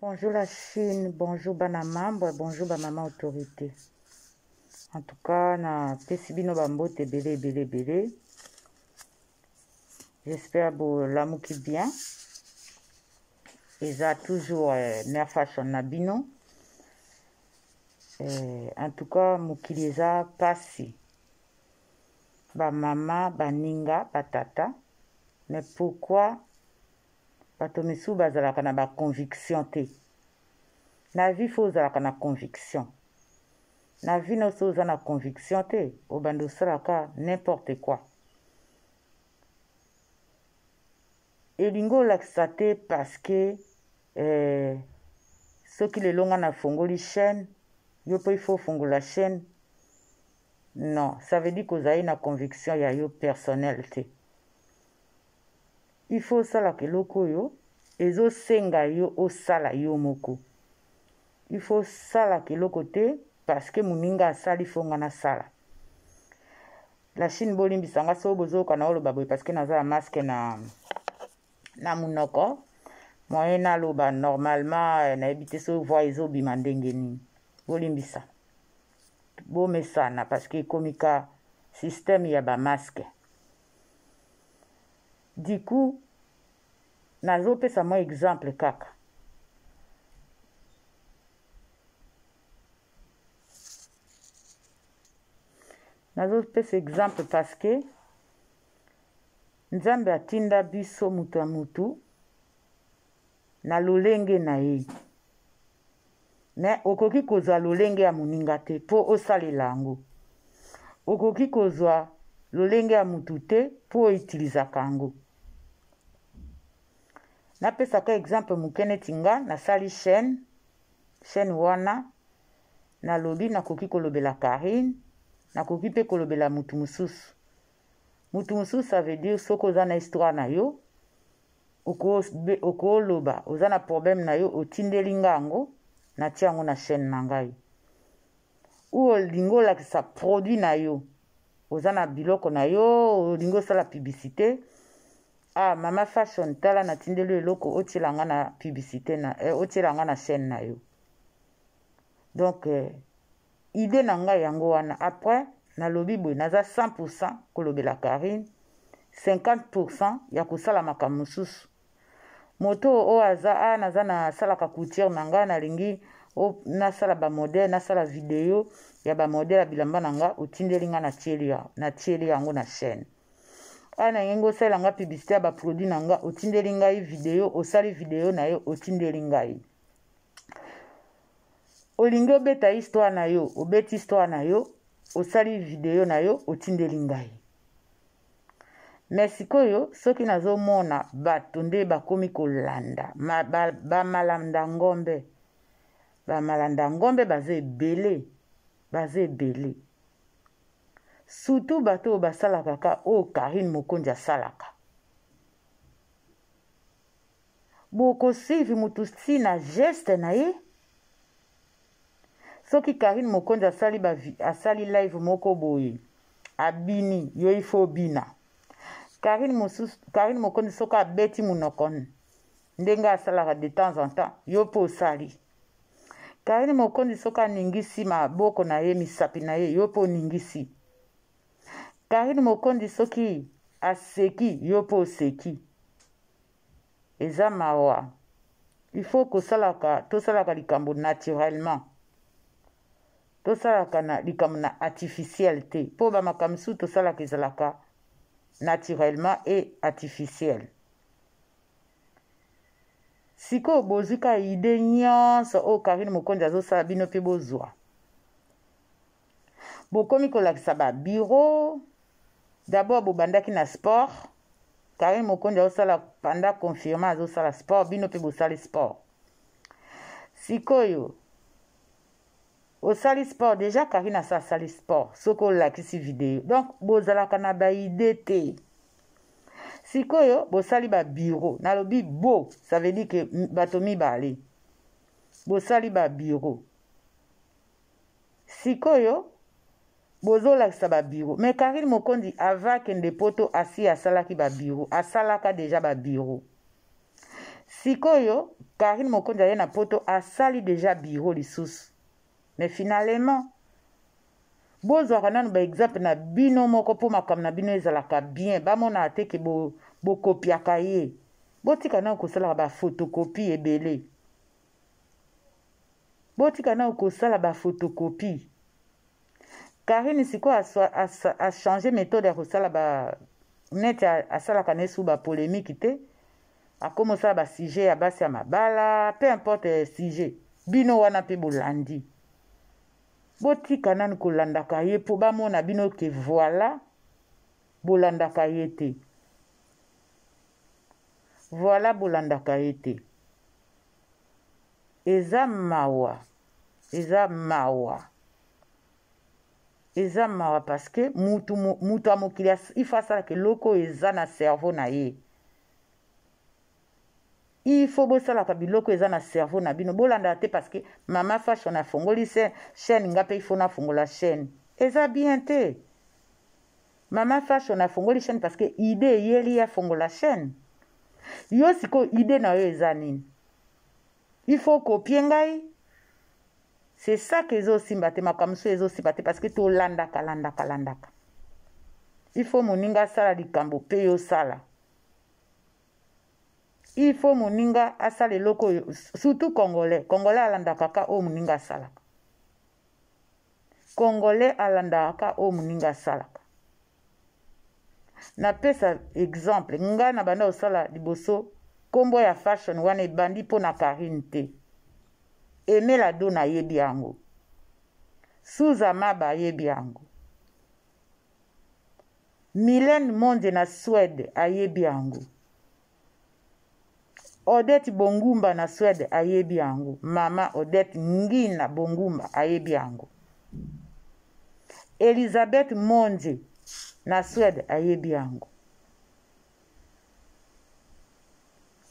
Bonjour la Chine, bonjour bana membre, bonjour ba mama autorité. En tout cas, na pesi bino ba mbote ebele ebele ebele. J'espère bo lamuki bien. Eza toujours euh, mère fashion na bino. Euh, en tout cas, mokili eza pasi. Ba mama, ba ninga, ba tata. Mais pourquoi bato misusu bazalaka na ba conviction te na vie fo ozalaka na conviction na vie no so oza na conviction te obanda osalaka n'importe quoi elingi olakisa te parce que eh, soki lelo ngai nafongoli chaîne yo mpe ifo ofungola chaîne non ça veut dire kozali na conviction ya yo personnel te il faut osalaka eloko oyo ezosenga yo osala yo moko il faut osalaka eloko te parce que moninga asali fo nga nasala la chine bolimbisa nga soo bozoyoka na oloba boye parce que naza ya masque na na monoko moyen naloba normalement eh, nayebi te soki voi ezobima ndenge nini bolimbisa bomesana parce que ekomi ka système ya bamaske du coup nazopesa mwa exemple kaka nazopesa exemple parce que nzambe atinda biso moto ya motu na lolenge na ye me okoki kozwa lolenge ya moninga te mpo osalela yango okoki kozwa lolenge ya motu te mpo oitilizaka yango napesaka exemple moke neti nga nasali chaîne chaîne wana nalobi nakoki kolobela karine nakoki mpe kolobela motu mosusu mutu mosusu ça veut dire soki oza na histoire na yo okoloba oza na problème na yo otindeli nga yango natia yango na chaîne na ngai ou olingi olakisa produit na yo oza na biloko na yo olingi osala publicité ah mama fashion tala natindeli yo eloko otiela nga na publicité na eh, otiela nga na chaîne na yo donc eh, idee na ngai yango wana après nalobi boye naza 100 pourcent kolobela carine 50 pourcent ya kosala makambo mosusu moto oyo aza a ah, naza nasalaka couture na ngai nalingi nasala bamodele nasala video ya bamodele ya bilamba na ngai otindeli ngai natieli yango na chaîne a ah, nalingi osalela ngai publicité ya baproduit na ngai otindeli ngai video osali video na yo otindeli ngai olingi obeta histoire na yo obeti histoire na yo osali video na yo otindeli ngai me sikoyo soki nazomona bato nde bakomi kolanda bamalanda ba, ba ngombe bamalanda ngombe baza ebele baza ebele surtout bato oyo basalaka ka oyo karine mokonzi asalaka bokosuivi motu si na geste na ye soki karine mokonzi asali, asali live moko boye abini yo ifo obina karine, mosusu, karine mokonzi soki abeti monoko ndenge asalaka de temps en temps yo mpe osali karine mokonzi soki aningisi maboko na ye misapi na ye yo mpe oningisi Carine Mokonzi soki aseki yo mpe oseki eza mawa il faut kosalaka tosalaka likambo naturellement tosalaka na likambo na artificiel te mpo bamakambo mosusu tosalaka ezalaka naturellement et artificiel sikoyo bozwi ka ide nyonso oyo karine mokonzi azosala bino mpe bozwa bokomi kolakisa ba bureau d'abord bobandaki na sport karine mokonzi azosala panda confirme azosala sport bino mpe bosali sport sikoyo osali sport deja karine asa asali sport soki olakisi video donc bozalaka na baide te sikoyo bosali babiro nalobi bo ça veut dire ke bato mibale bosali babiro sikoyo bozolakisa babiro me karine mokondi ava akende poto asi asalaki babiro asalaka deja babiro sikoyo karine mokondi aye na poto asali deja biro lisusu me finalement bozwaka nanu baexemple na bino moko mpo makambo na bino ezalaka bien bamonaka te ke bokopiaka bo ye botika nanu kosalaka bafotokopi ebele botika nao kosala bafotokopi karine sikoyo achange methode ya kosala ba neti asalaka na esu bapolemiki te akoma osala basujet ya basi ya mabala peu importe eh, sujet bino wana mpe bolandi botika nani kolandaka ye mpo bamona bino ke voila bolandaka ye te Voilà bolandaka ye te. Eza mawa. Eza mawa. Eza mawa parce que mutu mutu ya mokili il faut asalaka eloko oyo eza na cerveau na ye. Il faut bosalaka biloko eza na cerveau na bino bolandaka te parce que mama fashion afongoli chaîne nga mpe il faut nafongola chaîne. Eza bien te. Maman Fashion afongoli chaîne parce que idée eyeli ye afongola chaîne. Yo sikoyo idée na yo eza nini? Il faut kopie ngai? C'est ça que ezosimba te makambo mosusu ezosimba te parce que tolandaka landaka landaka. Il faut moninga asala likambo mpe yo osala. Il faut moninga asala eloko oyo surtout congolais. Congolais alandaka ka oyo moninga asalaka. Congolais alandaka ka oyo moninga asalaka. Napesa exemple, ngai na banda kosala liboso nkombo ya fashion wana ebandi mpo na Karine te. Emela do nayebi yango. Suza Maba ayebi yango. Mylène Monde na Suède ayebi yango. Odette Bongumba na Suède ayebi yango. Mama Odette Ngina Bongumba ayebi yango. Elisabeth Monje na Suède ayebi yango.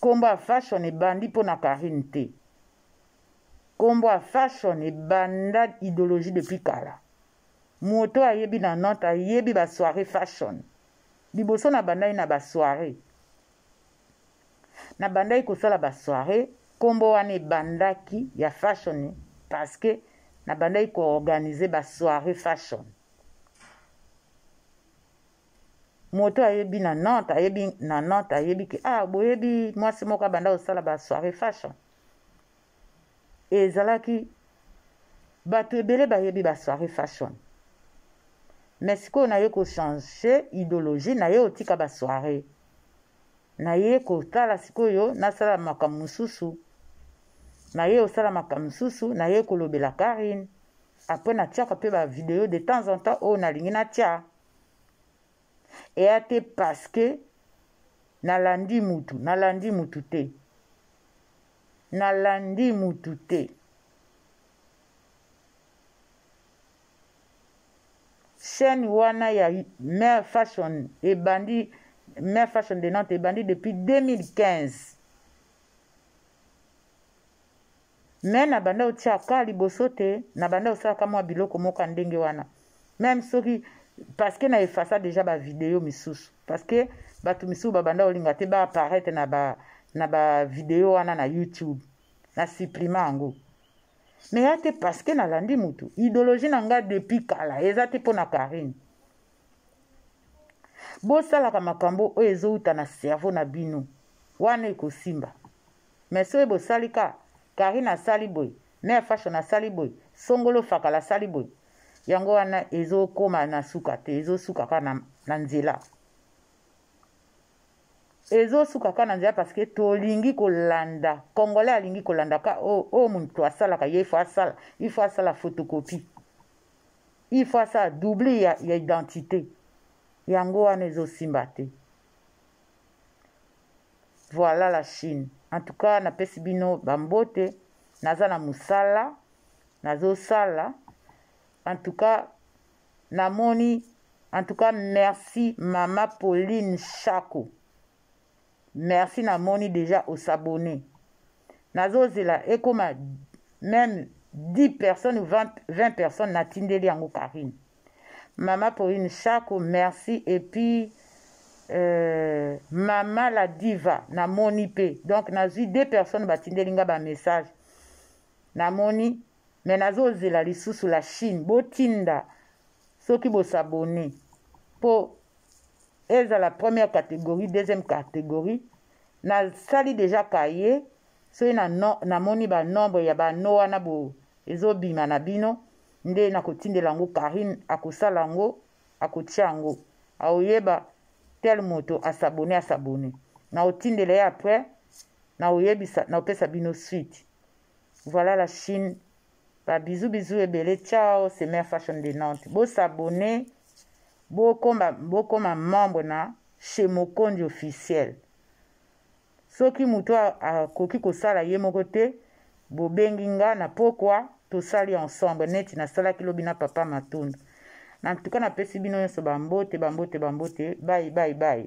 Kombo ya fashion ebandi mpo na Karine te. Kombo ya fashion ebanda ideologie depuis kala. Moto ayebi na Nantes ayebi ba soirée fashion. liboso na bandaki na ba soiree na bandaki kosala ba soiree nkombo wana ebandaki ya fashion parce que na bandaki koorganize ba soiree fashion moto ayebi na nantes ayebi na nantes ayebi ke ah boyebi mwasi moko abanda kosala ba soiree fashion ezalaki bato ebele bayebi ba soirée fashion mais sikoyo naye kochange idéologie naye otika ba soirée naye kotala sikoyo nasala makambo mosusu naye osala makambo mosusu naye kolobela karine apres natiaka mpe bavideo de temps en temps oyo nalingi natya eya te parce que nalandi mutu nalandi mutu te nalandi mutu te chaîne wana ya mère fashion ebandi mère fashion de nantes ebandi depuis 2015 me nabanda otiaka liboso te nabanda osalaka mwa biloko moko ya ndenge wana meme soki parce que na efasa déjà ba vidéo misusu parce que bato misusu babanda kolinga te ba apparaître na ba na ba vidéo wana na youtube na supprima yango mais ya te parce que nalandi motu idéologie na ngai depuis kala eza te mpo na karine bosalaka makambo oyo ezowuta na cerveau na bino wana ekosimba mais soki bosali ka karine asali boye Mère fashion asali boye, songolo fakala asali boye. Yango wana ezokoma na suka te, ezosuka kaka na, na nzela. Ezosuka kaka na nzela parce que tolingi kolanda. Congolais alingi kolanda ka oyo oh, oh, moto asalaka ye ifo asala, ifo asala photocopie. Ifo asala double ya, ya identité. Yango wana ezosimba te. Voilà la Chine. En tout cas, na pesi bino bambote. Naza na musala. Nazo sala. En tout cas, namoni. En tout cas, merci Mama Pauline Chako. Merci namoni déjà au s'abonner. Nazo zela ekoma même 10 personnes ou 20, 20 personnes natindeli yango Karine. Mama Pauline Shako, merci. Et puis, euh, Mama la Diva, na moni pe. Donc, na zui deux personnes batindeli nga ba message. Na moni, mais nazo zela lisusu la Chine. Botinda, soki bo s'abonner. Po, eza la première catégorie, deuxième catégorie. Na sali déjà cahier. Soki na, no, na moni ba nombre ya ba no wana bo, ezobima na bino. nde nakotindela yango Carine akosala yango akotia yango aoyeba tel moto asabone asabone naotindela ye après naoyebisa naopesa bino suite voilà la chine ba bisous bisous ebele ciao c'est mère fashion de nantes bosabone bokoma bokoma membre na chez mokondi officiel Soki moto akoki kosala ye moko te, bobengi nga na pokwa, tosali ensemble neti nasalaki lobi na papa Matundu. Na ntuka napesi bino nyonso bambote, bambote, bambote, bayi, bayi, bayi.